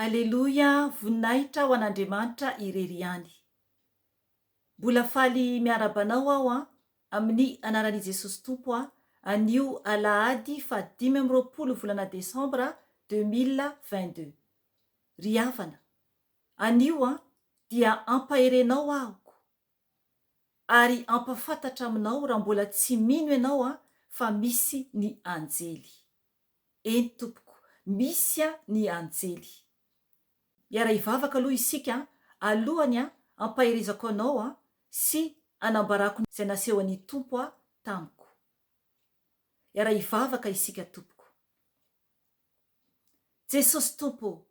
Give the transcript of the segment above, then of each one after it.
Aleloia voninahitra ho an'Andriamanitra irery ihany. Mbola faly miaraba anao aho an, amin'ny anaran'i Jesosy Tompo an, anio alahady faha dimy amby roapolo volana desambra deux mille vingt deux. Ry havana, anio an, dia ampaherenao aho ko, ary ampafantatra aminao raha mbola tsy mino ianao an, fa misy ny anjely. Eny tompoko, misy a ny anjely. Hiara hivavaka aloha isika a, alohany a, ampaherezako anao a, sy anambarako izay nasehon'ny Tompo a tamiko. Hiara hivavaka isika tompoko. Jesosy Tompo ô,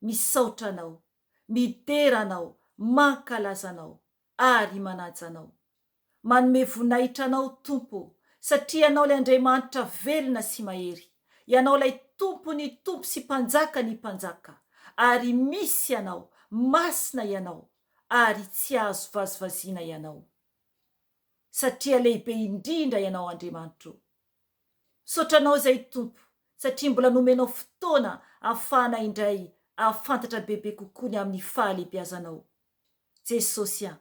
misaotra Anao, midera Anao, mankalaza Anao, ary manaja Anao. Manome voninahitra Anao, Tompo ô, satria Ianao ilay Andriamanitra velona sy mahery. Ianao ilay Tompon'ny tompo sy Mpanjakan'ny mpanjaka. Ary misy Ianao, masina Ianao, ary tsy azo vazivaziana Ianao. Satria lehibe indrindra Ianao, Andriamanitra ô. Misaotra Anao izay, Tompo, satria mbola nomenao fotoana ahafahana indray ahafantatra bebe kokoa ny amin'ny fahalehibiazanao. Jesosy a!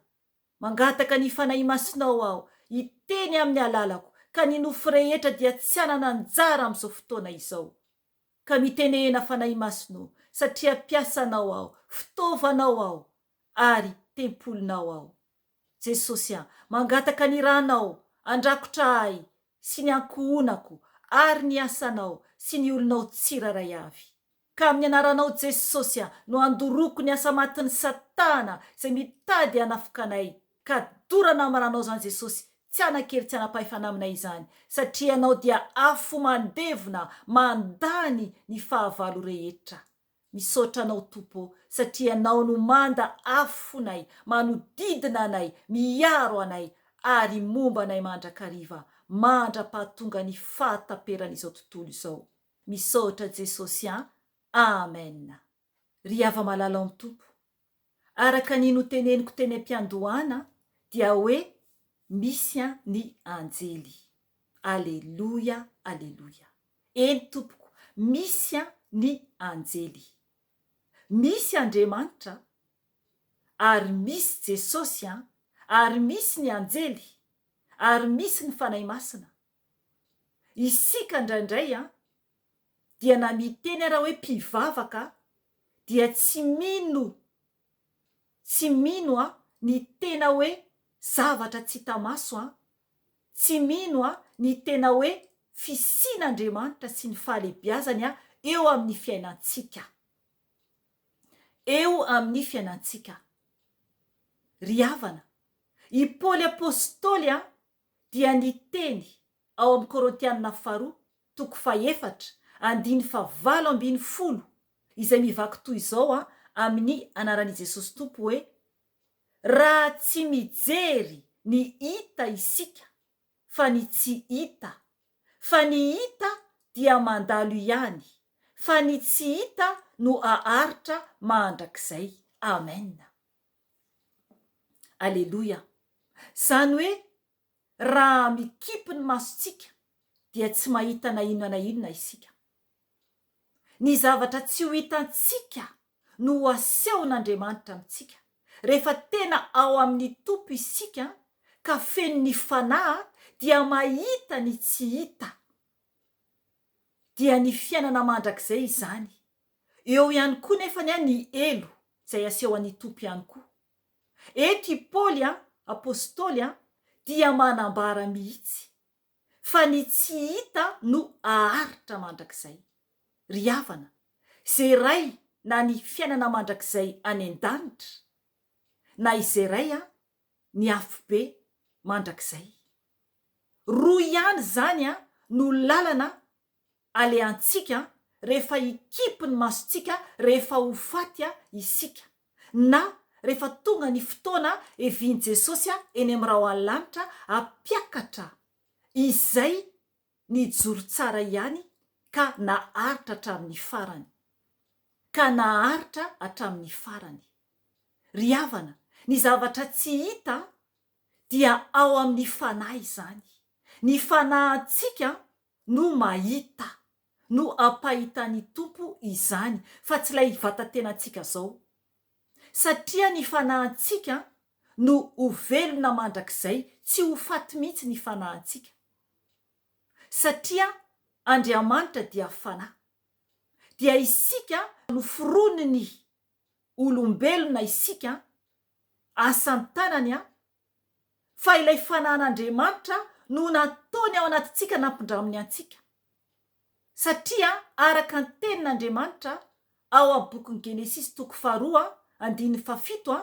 Mangataka ny Fanahy Masinao aho hiteny amin'ny alalako ka ny nofo rehetra dia tsy hanana anjara amin'izao fotoana izao. Ka mitenehena Fanahy Masino satria mpiasanao aho, fitaovanao aho ary tempolinao aho. Jesosy a! Mangataka ny Ranao andrakotra ahy sy ny ankohonako ary ny asanao sy ny olonao tsirairay avy. Ka amin'ny anaranao Jesosy a no andoroko ny asa matin'i satana izay mitady hanafoka anay ka dorana amranao izany Jesosy tsy hanakely tsy hanapahefana aminay izany satria ianao dia afo mandevona mandany ny fahavalo rehetra misaotra anao Tompo ô satria ianao no manda afonay manodidina anay miaro anay ary momba anay mandrakariva mandrapahatonga ny fahataperan'izao tontolo izao Misaotra Jesosy an! Amen! Ry hava-malala ao Tompo! Araka ny noteneniko teny am-piandohana dia hoe misy an ny anjely! Aleloia! Aleloia! Eny Tompoko! Misy an ny anjely! Misy Andriamanitra ary misy Jesosy an! Ary misy ny anjely! Ary misy ny Fanahy Masina! Isika indraindray an, dia na miteny ara hoe mpivavaka dia tsy mino, tsy mino an, ny tena hoe zavatra tsy hita maso an, tsy mino an, ny tena hoe fisian'Andriamanitra sy ny fahalebiazany an, eo amin'ny fiainantsika. Eo amin'ny fiainantsika. Ry havana, i Paoly apostoly an, dia ny teny ao amin'ny Korintianina Faharoa toko fahefatra andiny fahavalo ambin'ny folo izay mivaky toy izao amin'ny anaran'i Jesosy Tompo hoe, Raha tsy mijery ny hita isika fa ny tsy hita, fa ny hita dia mandalo ihany, fa ny tsy hita no haharitra mandrakizay. Amena. Aleloia! Izany hoe raha mikipy ny masontsika dia tsy mahita na inona na inona isika. Ny zavatra tsy ho hitantsika no ho asehon'Andriamanitra amintsika. Rehefa tena ao amin'ny Tompo isika ka feno ny Fanahy dia mahita ny tsy hita. Dia ny fiainana mandrakizay izany Eo ihany koa nefany an ny helo izay aseho an i Tompo ihany koa. Eto i Paoly an, Apostoly an, dia manambara mihitsy fa ny tsy hita no aharitra mandrakizay. Ry havana, izay ray na ny fiainana mandrakizay any an danitra, na izay ray an ny afobe mandrakizay. Roa ihany izany an no lalana Alehantsika rehefa hikipy ny masontsika rehefa ho faty isika, na rehefa tonga ny fotoana hevian'i Jesosy eny amin'ny rahona lanitra hampiakatra izay nijoro tsara ihany ka naharitra hatramin'ny farany. Ka naharitra hatramin'ny farany. Ry havana, ny zavatra tsy hita dia ao amin'ny fanahy izany. Ny fanahintsika no mahita, no ampahitan'ny Tompo izany, fa tsy ilay vatan-tenantsika izao. Satria ny fanahintsika no ho velona mandrakizay, tsy ho faty mihitsy ny fanahintsika. Satria Andriamanitra dia Fanahy. Dia isika noforonin'ny olombelona isika, asan-tanany fa ilay fanan'Andriamanitra no nataony ao anatintsika nampindraminy antsika. Satria araka ny tenin'Andriamanitra ao amin'ny bokin'ny Genesisy toko faharoa andininy fahafito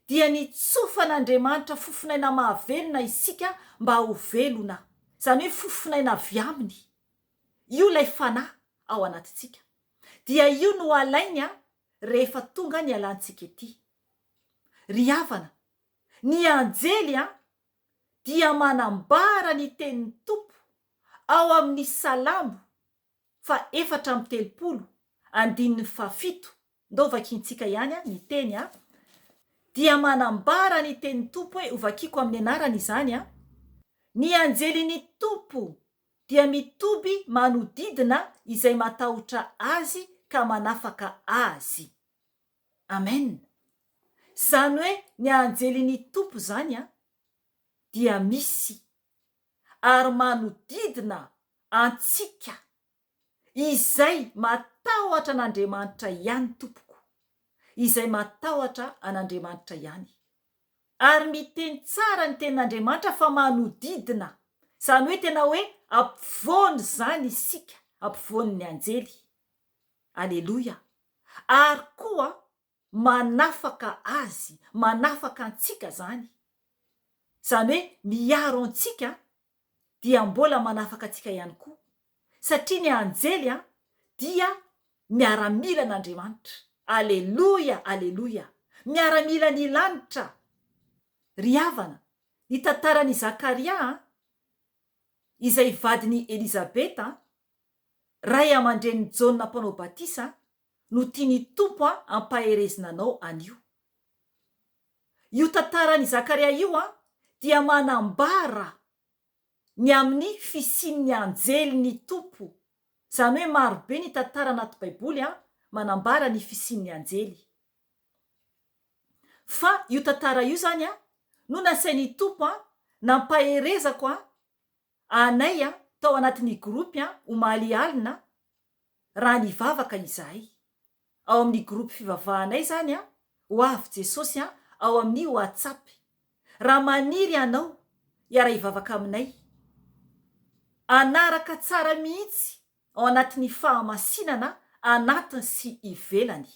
dia nitsofan'Andriamanitra fofonaina mahavelona isika mba ho velona, izany hoe fofonaina avy aminy. Io ilay fanahy ao anatintsika. Dia io no alainy rehefa tonga nialantsika ety. Ry havana, ny anjely an, dia manambara ny tenin'ny Tompo ao amin'ny Salamo fa efatra amby telopolo, andininy fahafito, ndao vakiantsika ihany an, ny teny an, dia manambara ny tenin'ny Tompo hoe, ho vakiako amin'ny anarany izany an, Ny anjelin'ny Tompo dia mitoby manodidina izay matahotra Azy ka manafaka azy. Amen! Zany hoe ny anjelin'ny Tompo zany an dia misy ary manodidina antsika izay matahotra an'Andriamanitra ihany tompoko, izay matahotra an'Andriamanitra ihany ary miteny tsara ny tenin'Andriamanitra fa manodidina zany hoe tena hoe ampovoany zany isika, ampovoan'ny anjely. Aleloia! ary koa manafaka azy, manafaka antsika izany, izany hoe miaro antsika dia mbola manafaka antsika ihany koa, satria ny anjely dia miaramilan'Andriamanitra. Aleloia! Aleloia! Miaramilan'ny lanitra. Ry havana, ny tantaran'i Zakaria, izay vadin'i Elizabeta, Ray aman-drenin'i Jaona Mpanao Batisa no tian'ny Tompo hampaherezina anao anio. Io tantaran'i Zakaria io dia manambara ny amin'ny fisian'ny anjelin'ny Tompo, izany hoe maro be ny tantara anaty Baiboly manambara ny fisian'ny anjely. Fa io tantara io izany no nasain'ny Tompo nampaherezako anay tao anatin'ny gropy omaly alina raha nivavaka izahay. Ao amin'ny gropy fivavahanay izany ho avy Jesosy ao amin'ny WhatsApp. Raha maniry ianao hiara-hivavaka aminay, hanaraka tsara mihitsy ao anatin'ny fahamasinana anatiny sy ivelany,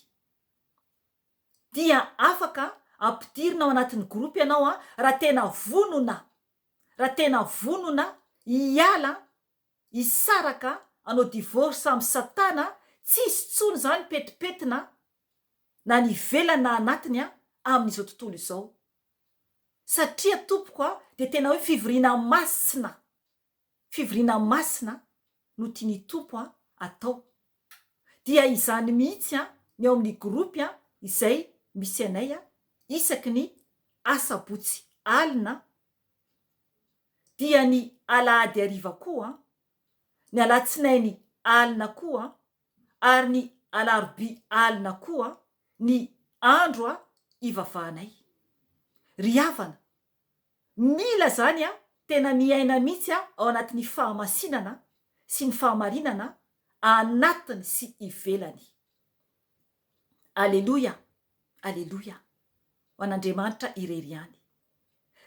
dia afaka ampidirina ao anatin'ny gropy ianao raha tena vonona Raha tena vonona hiala an, hisaraka an, hanao divorce am satana an, tsisy tsony zany petipetina an, na ny ivelany na anatiny an, amin'izao tontolo izao. Satria tompoko an, dia tena hoe fivoriana masina. Fivoriana masina no tian'ny Tompo an atao. Dia izany mihitsy an ny ao amin'ny groupe an izay misy anay an isaky ny asabotsy alina an, dia ny alahady hariva koa an, ny alatsinainy alina koa an, ary ny alarobia alina koa an ny andro an ivavahanay. Ry havana, Mila zany a tena miaina mitsy a ao anatin'ny fahamasinana sy ny fahamarinana anatiny sy ivelany. Aleloia aleloia ho an'Andriamanitra irery ihany.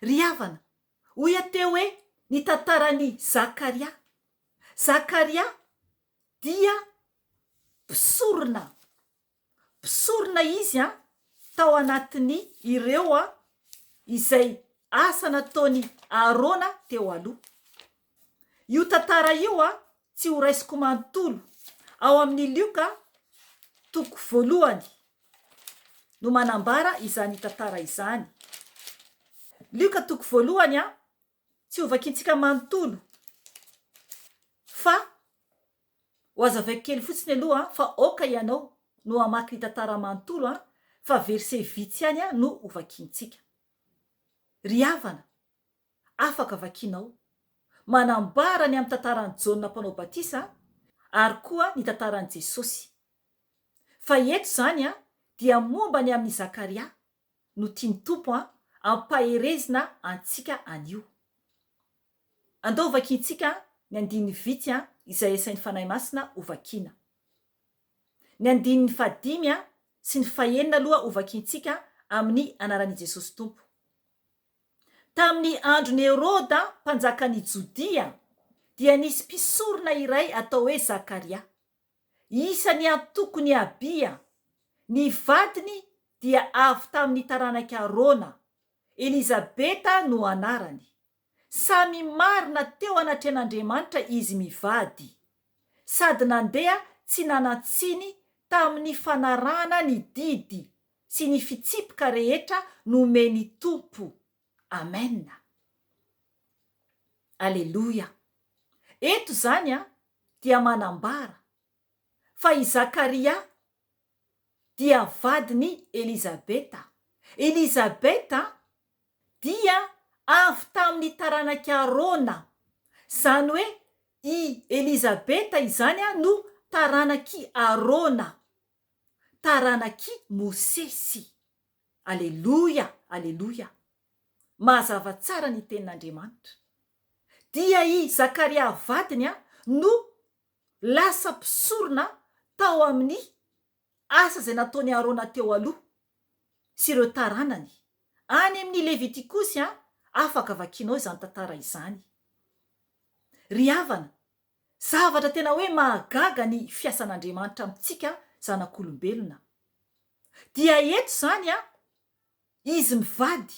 Ry havana, hoy aho teo hoe ny tantaran'i Zakaria. Zakaria dia mpisorona. Mpisorona izy tao anatin'ny ireo izay asa nataon'i Arona teo aloha. Io tantara io tsy horaisiko manontolo ao amin'ny Lioka toko voalohany no manambara izany tantara izany. Lioka toko voalohany Tsy ho vakintsika manontolo fa ho azavaiko kely fotsiny aloha fa aoka ianao no hamaky ny tantara manontolo an, fa verset vitsy ihany no ho vakintsika. Ry havana, afaka vakinao. Manambara ny amin'ny tantaran'i Jaona Mpanao Batisa ary koa ny tantaran'i Jesosy. Fa eto izany dia momba ny amin'i Zakaria, no tian'ny Tompo an, ampaherezina antsika anio. Andao vakintsika ny andininy vity an, izay asain'ny Fanahy Masina ho vakiana. Ny andininy fahadimy an, sy ny fahenina aloha ho vakintsika amin'ny anaran'i Jesosy Tompo. Tamin'ny andron'i Heroda mpanjakan'i Jodia dia nisy mpisorona iray atao hoe Zakaria. Isan'ny antoko ny Abia. Ny vadiny dia avy tamin'ny taranak'i Arona. Elizabeta no anarany. Samy marina teo anatrehan'Andriamanitra izy mivady. Sady nandeha tsy nanan-tsiny tamin'ny fanarahana ny didy sy ny fitsipika rehetra nomen'ny Tompo. Amen! Aleloia! Eto izany an, dia manambara fa i Zakaria dia vadin'i Elizabeta. Elizabeta dia avy tamin'ny taranak'i Arona. Izany hoe i Elizabeta izany an no taranak'i Arona, taranak'i Mosesy. Aleloia Aleloia Mazava tsara ny tenin'Andriamanitra Dia i Zakaria vadiny no lasa mpisorona tao amin'ny asa izay nataon'i Arona teo aloha sy ireo taranany Any amin'ny Levitikosy Afaka vakianao izany tantara izany Ry havana Zavatra tena hoe mahagaga ny fiasan'Andriamanitra amintsika zanak'olombelona. Dia eto izany an, izy mivady,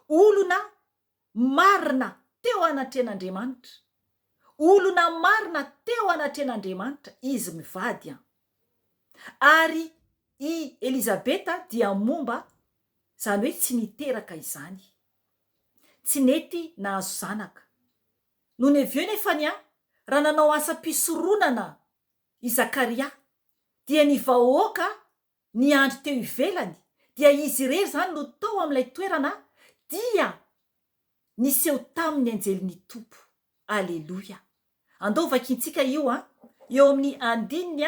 olona marina teo anatrehan'Andriamanitra. Olona marina teo anatrehan'Andriamanitra izy mivady an. Ary i Elizabeta dia momba izany hoe tsy niteraka izany. Tsy nety nahazo zanaka. Nonevieux Nefania raha nanao asam-pisoronana i Zakaria, dia ny vahoaka niandry teo ivelany, dia izy irery izany no tao amin'ilay toerana dia niseho taminy ny anjelin'ny Tompo. Aleloia! Andao vakintsika io an! Eo amin'ny andininy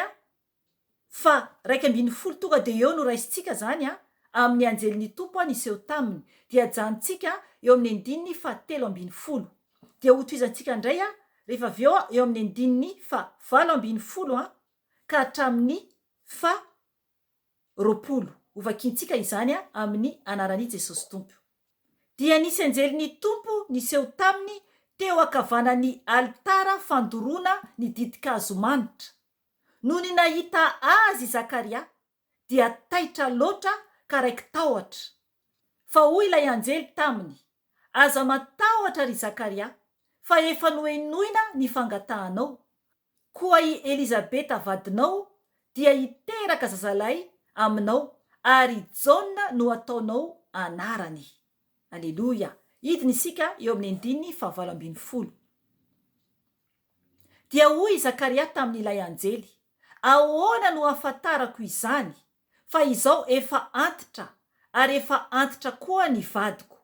Fa raika ambin'ny folo tonga dia eo no raisintsika zany a, amin'ny anjelin'ny Tompo a niseho taminy, dia ajanontsika eo amin'ny andininy faha telo ambin'ny folo, dia hotohizantsika ndray a rehefa avy eo eo amin'ny andininy faha valo ambin'ny folo a ka hatramin'ny faha roapolo, hovakintsika izany a amin'ny anaran'i Jesosy Tompo. Dia nisy anjelin'ny Tompo niseho taminy teo akavanan'ny alitara fandoroana ny ditin-kazo manitra, Nony nahita azy i Zakaria, dia taitra loatra ka raiki-tahotra. Fa hoy ilay anjely taminy, Aza matahotra, ry Zakaria, fa efa nohenoina ny fangatahanao, koa i Elizabeta vadinao dia hiteraka zazalahy aminao, ary Jaona no hataonao anarany. Aleloia! Hidina isika eo amin'ny andininy fahavalo ambin'ny folo. Dia hoy i Zakaria tamin'ilay anjely, Ahoana no hahafantarako izany, fa izao efa antitra, ary efa antitra koa ny vadiko?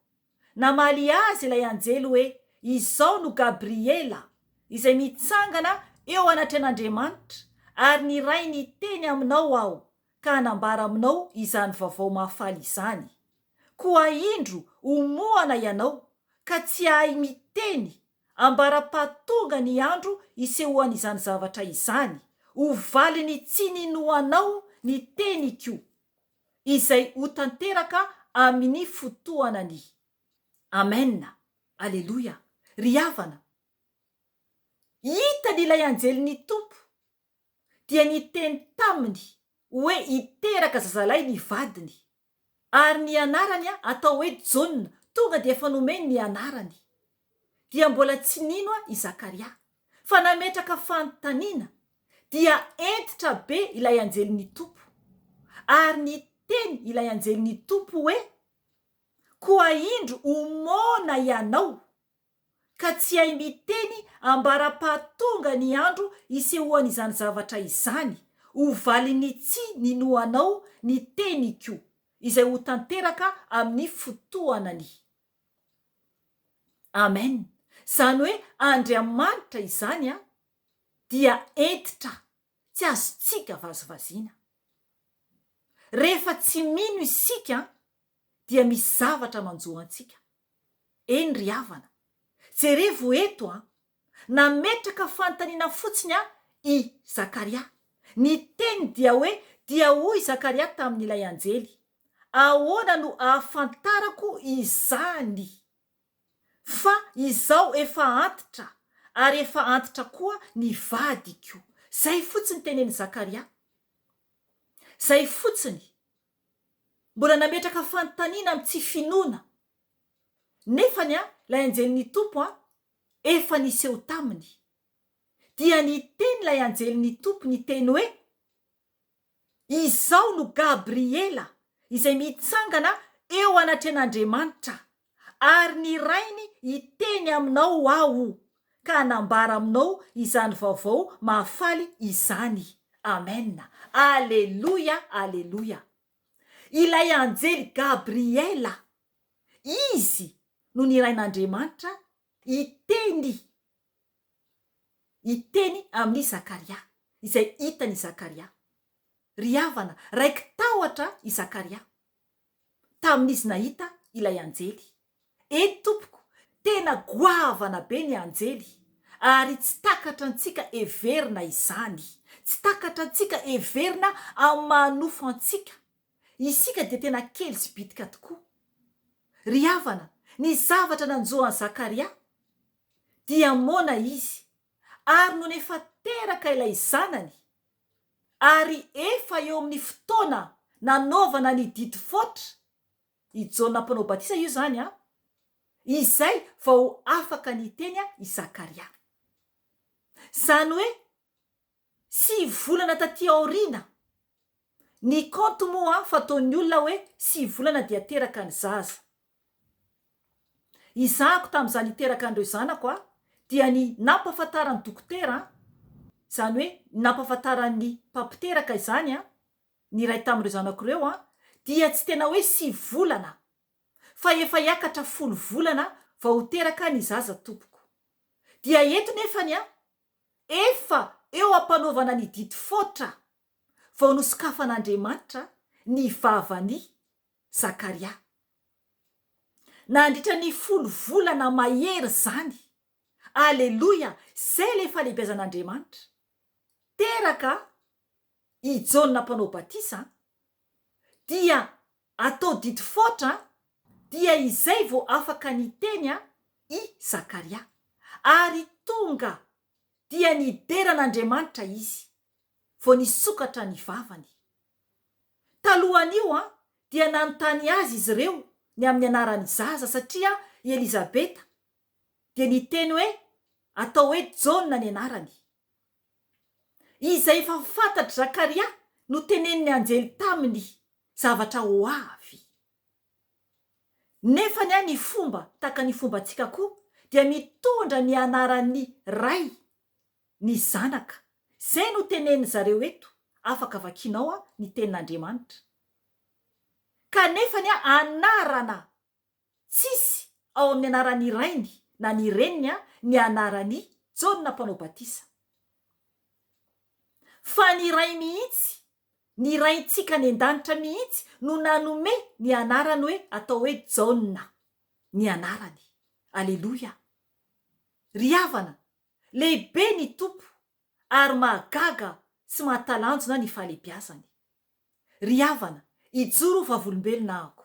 Namaly azy ilay anjely hoe, Izao no Gabriela, izay mitsangana eo anatrehan'Andriamanitra, ary niray ny teny aminao aho, ka hanambara aminao izany vaovao mahafaly izany. Koa indro, homohana ianao, ka tsy hahay miteny Ambara-pahatonga ny andro isehoan'izany zavatra izany, ho valin'ny tsy ninoanao ny teniko, izay ho tanteraka amin'ny fotoanany. Amena. Aleloia. Ry havana, hitany ilay anjelin'ny Tompo, dia niteny taminy hoe hiteraka zazalahy ny vadiny. Ary ny anarany atao hoe Jaona, tonga dia efa nomeny ny anarany. Dia mbola tsy nino i Zakaria, fa nametraka fanontaniana, dia hentitra be ilay anjelin'ny Tompo. Ary niteny ilay anjelin'ny Tompo hoe, Koa indro homona ianao, ka tsy hay miteny ambara-pahatonga ny andro hisehoan'izany zavatra izany, ho valin'ny tsy ninoanao ny teniko, izay ho tanteraka amin'ny fotoanany. Amen. Izany hoe Andriamanitra izany an, dia hentitra, tsy azontsika vazivaziana. Rehefa tsy mino isika an, dia misy zavatra manjo antsika. Eny ry havana, jerevo eto an! Nametraka fanontaniana fotsiny an i Zakaria. Ny teny dia hoe dia hoy Zakaria tamin'ilay anjely, Ahoana no ahafantarako izany? Fa izao efa antitra, ary efa antitra koa ny vadiko. Zay fotsiny tenenin'i Zakaria. Zay fotsiny. Mbola nametraka fanontaniana am tsy finoana nefany an lay anjely ny Tompo an efa niseho taminy. Dia niteny lay anjely ny Tompo niteny hoe izao no Gabriela izay mitsangana eo anatrehan'Andriamanitra Ary ny Rainy hiteny aminao Aho, ka hanambara aminao izany vaovao mahafaly izany. Amena. Aleloia, aleloia. Ilay Anjely Gabriela, izy no nirahin'Andriamanitra hiteny, hiteny amin'i Zakaria, izay hitan'i Zakaria. Ry havana, raiki-tahotra i Zakaria. tamin'izy nahita ilay anjely. Eny tompoko, tena goavana be ny anjely, ary tsy takatra antsika heverina izany. Tsy takatra antsika heverina amin'ny maha nofo antsika. Isika dia tena kely sy bitika tokoa. Ry havana, ny zavatra nanjo an'i Zakaria, dia moana izy, ary nony efa teraka ilay zanany, Ary efa eo amin'ny fotoana nanaovana ny didy foatra i Jaona Mpanao Batisa io izany an, izay vao afaka niteny i Zakaria. Izany hoe sivy volana taty aoriana. Ny kaonty moa fataon'ny olona hoe sivy volana dia teraka ny zaza. Izahako tamin'izaho niteraka an'ireo zanako aho dia ny nampahafantaran'ny dokotera, izany hoe nampahafantaran'ny mpampiteraka izany, ny iray tamin'ireo zanako ireo dia tsy tena hoe sivy volana fa efa hiakatra folo volana vao ho teraka ny zaza tompoko. Dia eto nefany efa eo am-panaovana ny didy foatra vao nosokafan'Andriamanitra ny vavany Zakaria. Nandritra ny folo volana mahery izany. Aleloia! Izay ilay fahalehibiazan'Andriamanitra. Teraka i Jaona Mpanao Batisa, dia atao didifoatra, dia izay vao afaka niteny i Zakaria. Ary tonga, dia nidera an'Andriamanitra izy. vao nisokatra ny vavany. Talohan'io dia nanontany azy izy ireo ny amin'ny anaran'ny zaza satria i Elizabeta dia niteny hoe atao hoe Jaona ny anarany. Izay efa fantatr'i Zakaria no tenenin'ny anjely taminy zavatra ho avy. Nefany an ny fomba tahaka ny fombantsika koa dia mitondra ny anaran'ny Ray Ny zanaka. Izay no tenenin zareo eto, afaka vakianao an ny tenin Andriamanitra. Kanefa ny anarana tsisy ao amin ny anaran ny rainy na ny reniny an ny anaran i Jaona mpanao batisa. Fa ny Ray mihitsy, ny Raintsika any an-danitra mihitsy no nanome ny anarany hoe atao hoe Jaona ny anarany. Aleloia. Ry havana, Lehibe ny Tompo ary mahagaga sy mahatalanjona ny fahalebiazany. Ry havana, hijoro ho vavolombelona ahako.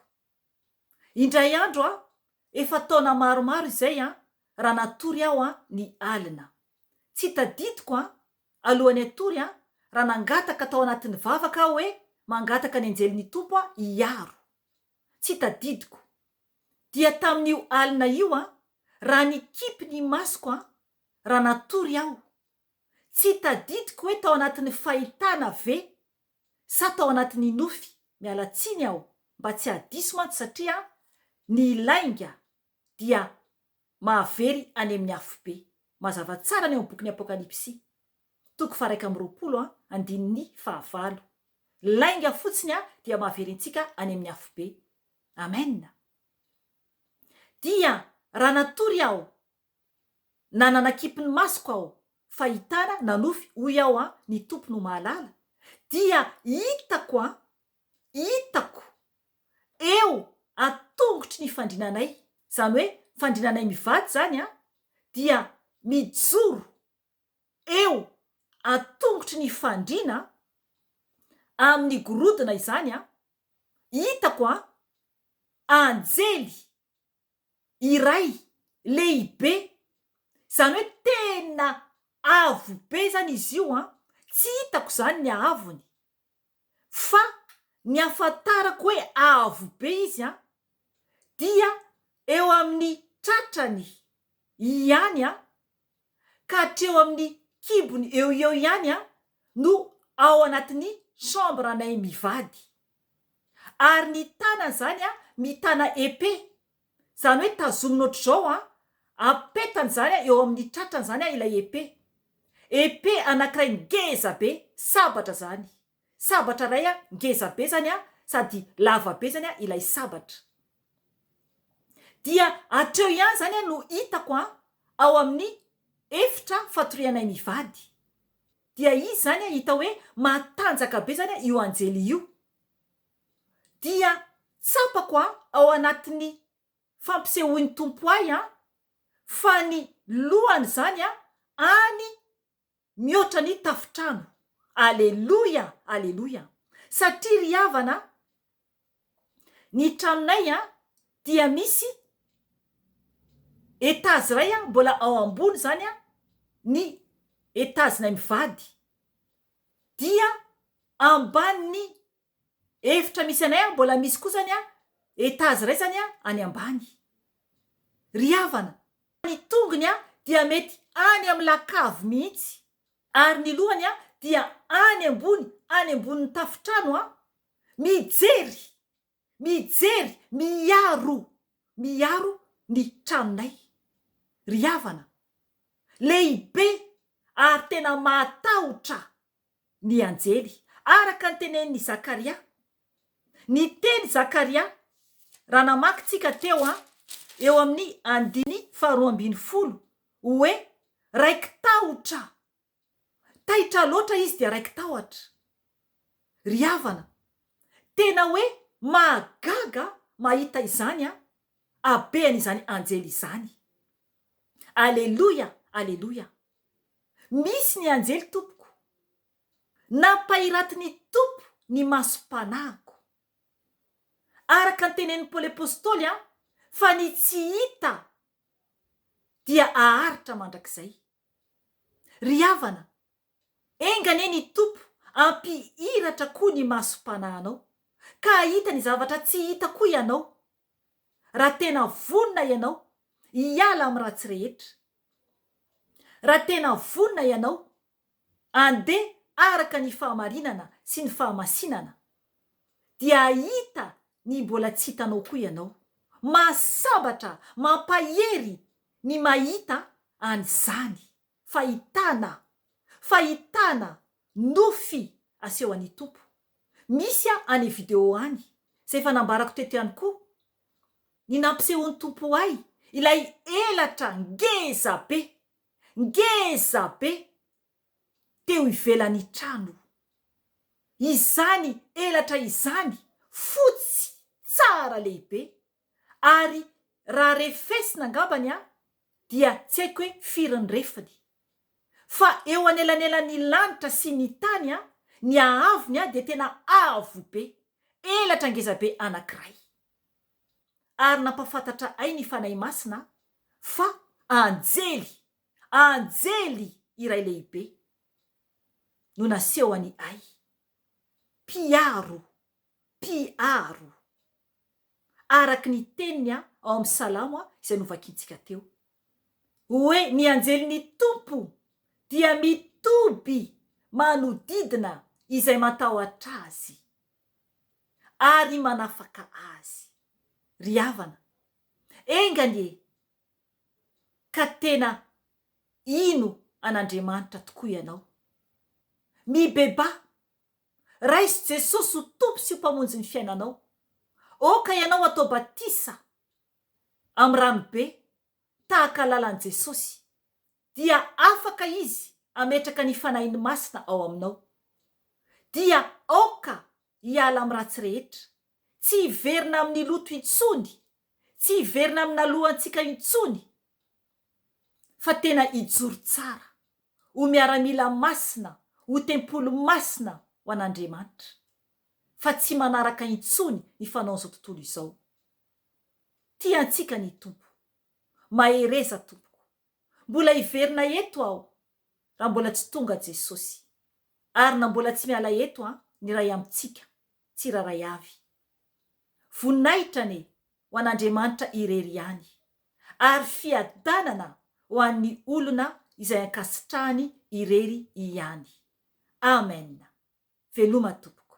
Indray andro aho, efa taona maromaro izay an, raha natory aho an, ny alina. Tsy tadidiko an, alohan'ny hatory an, raha nangataka tao anatin'ny vavaka aho hoe mangataka ny anjelin'ny Tompo an, hiaro. Tsy tadidiko. dia tamin'io alina io an, raha nikipy ny masoko an, raha natory aho, tsy tadidiko hoe tao anatin'ny fahitana ve sa tao anatin'ny nofy, miala tsiny aho mba tsy hahadiso mantsy satria an, ny lainga dia mahavery any amin'ny afobe. Mazava tsara ny ao amin'ny bokin'ny Apokalypsy, toko faharaika amby roapolo an, andininy fahavalo. Lainga fotsiny an, dia mahavery antsika any amin'ny afobe. Amen! Dia raha natory aho na nanakipy ny masoko aho fahitana nanofy hoy aho an ny Tompo no mahalala dia hitako an hitako eo an tongotry ny fandrinanay zany hoe fandrinanay mivady zany an dia mijoro eo an-tongotry ny fandriana amin'ny gorodona izany an! hitako an! anjely iray lehibe izany hoe tena avo be izany izy io an! tsy hitako izany ny ahavony fa ny ahafantarako hoe avo be izy an, dia eo amin'ny tratrany ihany an, ka hatreo amin'ny kibony eo ho eo ihany an, no ao anatin'ny chambre-nay mivady. Ary ny tanany izany an, mitana épée, Izany hoe tazomina ohatr'izao an, apetany izany an eo amin'ny tratrany izany an ilay épée. Épée anankiray ngeza be, sabatra izany. Sabatra iray an ngeza be izany an sady lava be izany an ilay sabatra. Dia hatreo ihany izany an no hitako an ao amin'ny efitra fatorianay mivady. Dia izy izany an hita hoe matanjaka be izany an io anjely io. dia tsapako an ao anatin'ny fampisehoan'ny Tompo ahy an fa ny lohan'izany an any mihoatra ny tafotrano. Aleloia! Aleloia! Satria ry havana an, ny tranonay an dia misy etazy iray an mbola ao ambony izany an ny etazinay mivady dia ambanin'ny Efitra misy anay an mbola misy kosa ny an etage raisany an any ambany. Ry havana. Ny tongony an dia mety any amin'ny lakavy mihitsy. Ary ny lohany an dia any ambony any ambonin'ny tafontrano an. Mijery! Mijery! Miaro! Miaro ny tranonay. Ry havana. Lehibe ary tena mahatahotra ny anjely, araka ny tenenin'i Zakaria. Niteny Zakaria, raha namaky tsika teo eo amin'ny andiny faharoa ambin'ny folo, hoe raiki-tahotra. Taitra loatra izy dia raiki-tahotra. Ry havana, tena hoe mahagaga mahita izany habean'izany anjely izany. Aleloia! Aleloia! Misy ny anjely tompoko. Nampahiratin'ny Tompo ny masom-panahiko. Araka ny tenenin'i Paoly Apostoly an, fa ny tsy hita dia aharitra mandrakizay. Ry havana, enga anie ny Tompo hampihiratra koa ny masom-panahanao, ka hahita ny zavatra tsy hita koa ianao, raha tena vonona ianao hiala amin'ny ratsy rehetra. Raha tena vonona ianao, andeha araka ny fahamarinana sy ny fahamasinana, dia hahita ny mbola tsy hitanao koa ianao. Mahasambatra, mampahery ny mahita an'izany fahitana, fahitana nofy aseho an'i Tompo. Misy any video any, izay efa nambarako teto ihany koa, ny nampisehoan'ny Tompo ahy, ilay elatra ngeza be, ngeza be teo ivelan'ny trano. Izany elatra izany, fotsy tsara lehibe, ary raha refesina angambany an, dia tsy haiko hoe firy ny refiny. Fa eo anelanelan'ny lanitra sy ny tany a, ny haavony a dia tena avo be, elatra ngeza be anankiray. Ary nampafantatra ay ny Fanahy Masina fa anjely, anjely iray lehibe no nasehony ay. Mpiaro, mpiaro. araka ny teniny ao amin'ny Salamo izay novakintsika teo. Hoe ny anjelin'ny Tompo dia mitoby manodidina izay matahotra Azy ary manafaka azy. Ry havana, enga anie ka tena hino an'Andriamanitra tokoa ianao. Mibebaha! Raiso Jesosy ho Tompo sy ho Mpamonjy ny fiainanao. Aoka ianao hatao batisa amin'ny rano be tahaka lalan'i Jesosy, dia afaka Izy hametraka ny Fanahiny Masina ao aminao. Dia aoka hiala amin'ny ratsy rehetra, tsy hiverina amin'ny loto intsony, tsy hiverina amin'ny naloantsika intsony, fa tena hijoro tsara ho miaramila masina ho tempoly masina ho an'Andriamanitra fa tsy manaraka intsony ny fanaon'izao tontolo izao. Tia antsika ny Tompo. Mahereza tompoko. Mbola hiverina eto aho raha mbola tsy tonga Jesosy. Ary na mbola tsy miala eto an, ny Ray amintsika, tsirairay avy. Voninahitra anie ho an'Andriamanitra irery ihany, ary fiadanana ho an'ny olona izay ankasitrahany irery ihany. Amen! Veloma tompoko.